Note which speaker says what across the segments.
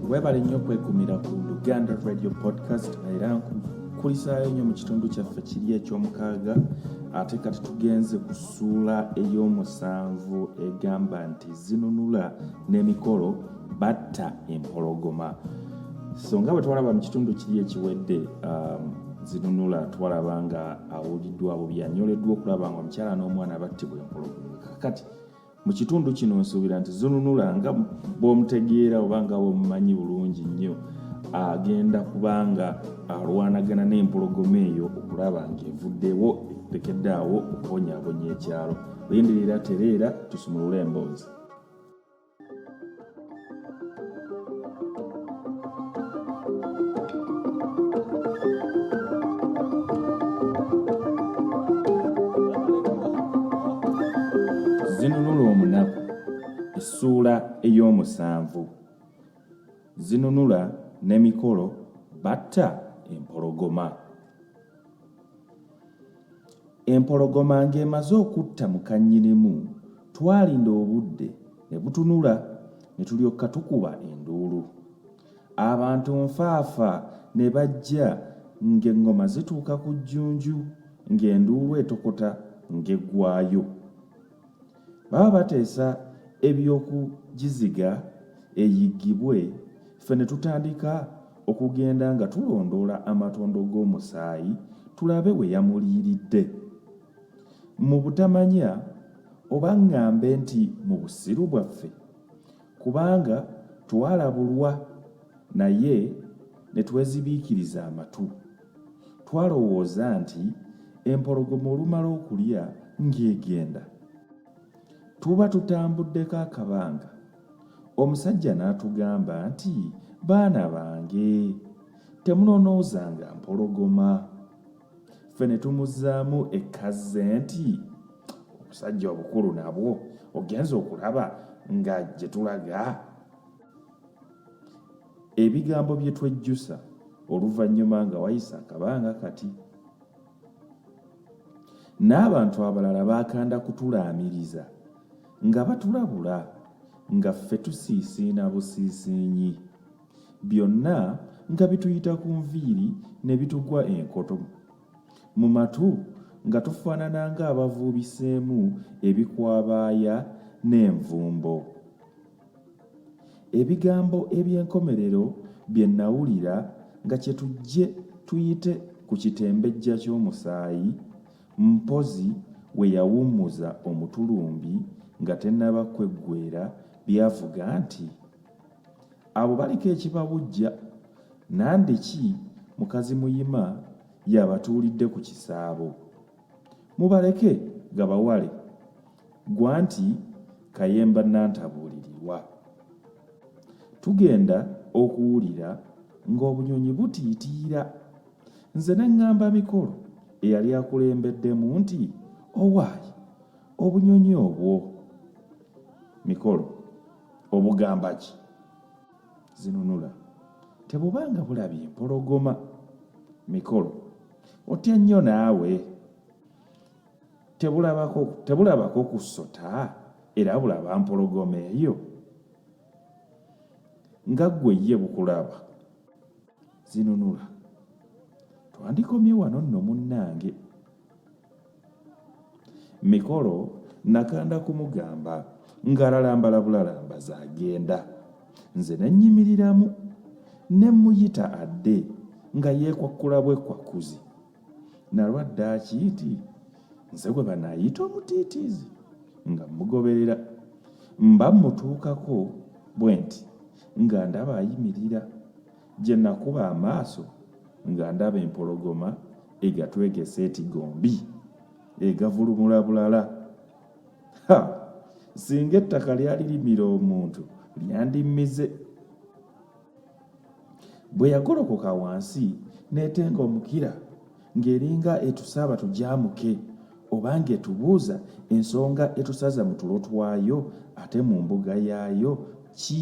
Speaker 1: webale nnyo kwekumira ku luganda radio podcast era nkukulisaayo nnyo mu kitundu kyaffe kiri ekyomukaaga ate kati tugenze ku ssuula ey'omusanvu egamba nti zinunula n'emikolo batta empologoma so nga bwe twalaba mu kitundu kiri ekiwedde um, zinunula twalaba nga awuliddwa bubi anyoleddwa okulaba nga omukyala n'omwana battibwa empologoma kakati Mu kitundu kino nsuubira nti Zununula nga bw'omutegeera oba nga bw'omumanyi bulungi nnyo agenda kubanga alwanagana n'empologoma eyo okulaba ng'evuddewo etekedde awo okubonyabonya ekyalo. Lindirira tereera tusumulule emboozi. zinunula omunaku essuula ey'omusanvu zinunula n'emikolo batta empologoma empologoma ng'emaze okutta mukannyinimu twalinda obudde ne butunula ne tulyoka tukuba enduulu abantu nfaafa ne bajja ng'eŋŋoma zituuka ku jjunju ng'enduulu etokota ng'eggwayo baba bateesa ebyokugiziga eyiggibwe ffe ne tutandika okugenda nga tulondoola amatondo g'omusaayi tulabe we yamuliiridde mu butamanya oba ŋŋambe nti mu busiru bwaffe Kubanga twalabulwa naye ne twezibiikiriza amatu. Twalowooza nti empologoma olumala okulya ng'egenda. Tuba tutambuddeko akabanga, omusajja n'atugamba nti, Baana bange, temunonoozanga mpologoma. ffe ne tumuzzaamu ekazze nti obusajja obukulu nabwo ogenza okulaba nga gye tulaga ebigambo bye twejjusa oluvannyuma nga wayise akabanga kati n'abantu abalala baakanda kutulaamiriza nga batulabula nga ffe tusiisiina busiisiinyi byonna nga bituyita ku nviiri ne bitugwa enkoto mu matu nga tufaanana ng'abavuubiseemu ebikwabaaya n'envumbo ebigambo eby'enkomerero bye nnawulira nga kye tujje tuyite ku kitembejja ky'omusaayi mpozi we yawummuza omutulumbi nga tennaba kweggwera byavuga nti abo baliko ekibawujja nande ki mukazi muyima yabatuulidde ku kisaabo mubaleke gabawale gwa nti kayemba nantabuulirirwa tugenda okuwulira ng'obunyonyi butiitiira nze ne ŋŋamba mikolo eyali akulembeddemu nti owaayi obunyonyi obwo mikolo obugamba ki zinunula tebubanga bulabye mpologoma mikolo otya nnyo naawe tebulabako kusota era bulaba mpologoma eyo nga ggwe ye bukulaba zinunula twandikomye wano nno munnange mikolo nakanda kumugamba ngalalambala bulalambaza agenda nze nenyimiriramu nemuyita adde nga yekwakkula bwekwakkuzi nalwadde akiiti nze gwe banayita omutiitiizi nga mugoberera mba mutuukako bwe nti nga ndaba ayimirira Gye nakuba amaaso nga ndaba empologoma egatwegese eti gombi egavulumula bulala ha singa ettaka lyali limira omuntu lyandimmize bwe yagolokoka wansi n'etenga omukira ng'eringa etusaaba tugyamuke oba ng'etubuuza ensonga etusaza mu tulo twayo ate mu mbuga yaayo ki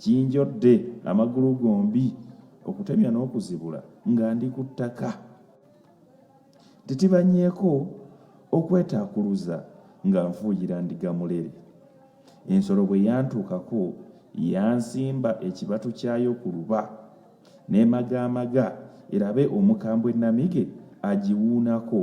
Speaker 1: Kinjodde amagulu gombi okutemya n'okuzibula nga ndi ku ttaka. Titibanyeeko okwetaakuluza nga nfuuyira ndiga mulere. Ensolo bwe yantuukako yansimba ekibatu kyayo ku luba n'emagaamaga erabe omukambwe Namige agiwuunako.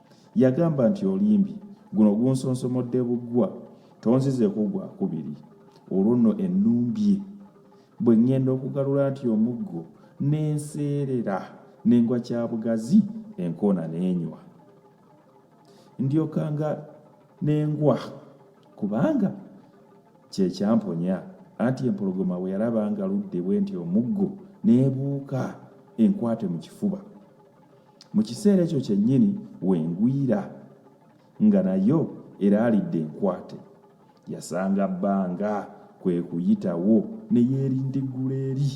Speaker 1: Yagamba nti olimbi guno gunsonsomodde buggwa tonzizeeko gwa kubiri olwo nno ennumbye bwe ŋŋenda okugalula nti omuggo n'enseerera n'engwa kya bugazi enkoona n'enywa ndyoka nga n'engwa kubanga kye kyamponya anti empologoma bwe yalaba nga ludde bwe nti omuggo n'ebuuka enkwate mu kifuba mu kiseera ekyo kyennyini wengwira nga nayo eraalidde enkwate yasanga bbanga kwe kuyitawo ne yeerindiggula eri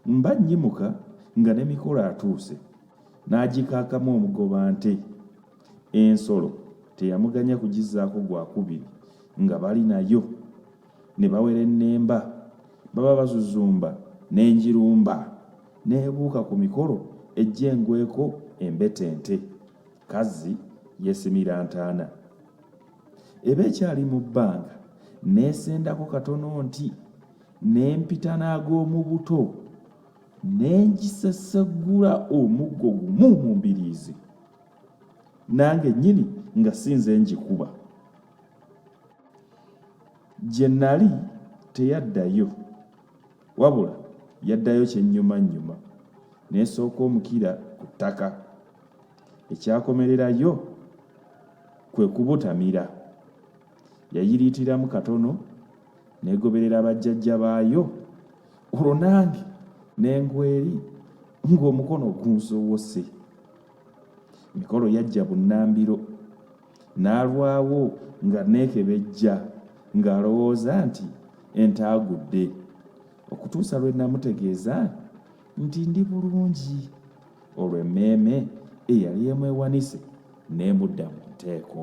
Speaker 1: mba nnyimuka nga ne mikolo atuuse n'agikaakamu omugoba nte ensolo teyamuganya kugizaako gwakubiri nga bali nayo ne bawerennemba baba bazuzumba n'enjirumba Neebuuka ku mikolo ejja engweko embetente, kazzi yeesimira ntaana. Eba ekyali mu bbanga neesendako katono nti n'empita n'ag'omu buto ne ngiseseggula omuggo gumu mu mbiriizi nange nnyini nga si nze ngikuba gye nali teyaddayo Wabula yaddayo kyennyumannyuma n'esooka omukira ku ttaka. Ekyakomererayo kwe kubutamira. Yayiriitiramu katono n'egoberera bajjajja baayo olwo nange ne ngweri ng'omukono gunzowose. Emikolo yajja bunnambiro N'alwawo ng'anneekebejja ng'alowooza nti ente agudde okutuusa lwe namutegeeza nti ndi bulungi olwo emmeeme eyali emwewanise n'emudda mu nteeko.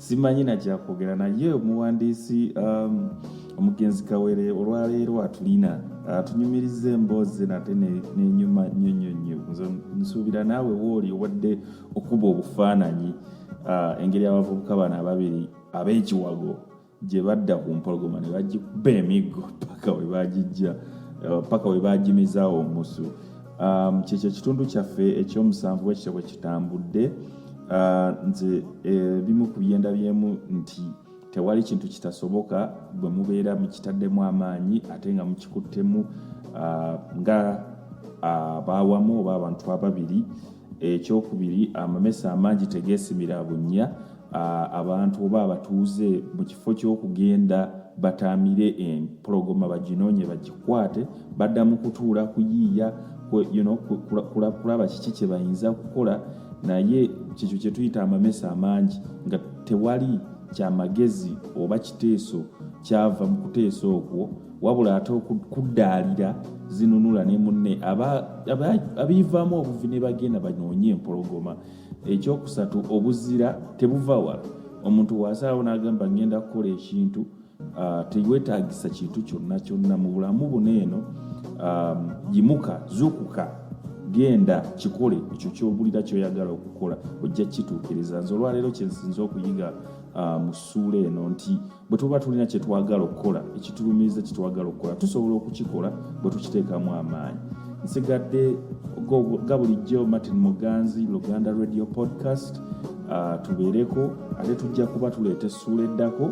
Speaker 1: simanyi nakyakwogera naye omuwandiisi um, omugenzi kawere olwaleero atulina atunyumiriza emboozi nate nenyuma nyo nyo nyo nze nsuubira naawe wooli owadde okuba obufaananyi uh, engeri abavubuka bano ababiri ab'ekiwago gye badda ku mpologoma ne bagikuba emiggo paka we bagijja uh, paka we bagimizaawo omusu um, kyekyo ekitundu kyaffe ekyomusanvu bwekityo bwe kitambudde ah, nze ebimu eh, ku byenda byemu nti tewali kintu kitasoboka bwe mubeera mukitaddemu amaanyi ate nga mukikuttemu ah, nga ah, baawamu oba abantu ababiri ekyokubiri amamesa amangi tegeesimira bunnya abantu oba abatuuze mu kifo ky'okugenda bataamire empologoma baginoonye bagikwate badda mu kutuula kuyiiya kulaba kiki kye bayinza kukola naye kyekyo kyetuyita amamesa amangi nga tewali kyamagezi oba kiteeso kyava mu kuteesa okwo wabula ate okuddaalira zinunula ne munne abiivaamu obuvi ne bagenda banoonye empologoma ekyokusatu obuzira tebuva wala omuntu waasalawo n'agamba ngenda kukola ekintu Uh, tewetagisa kintu kyonna kyonna mu bulamu buno eno um, yimuka zukuka genda kikole ekyo kyobulira kyoyagala okukola ojja kituukiriza nze olwaleero kyensinza okuyiga uh, mu ssuula eno nti bwe tuba tulina kyetwagala okukola ekitulumiriza kyetwagala okukola tusobola okukikola bwe tukiteekamu amaanyi nsigadde ga bulijjo martin muganzi luganda radio podcast uh, tubeereko ate tujja kuba tuleeta essuula eddako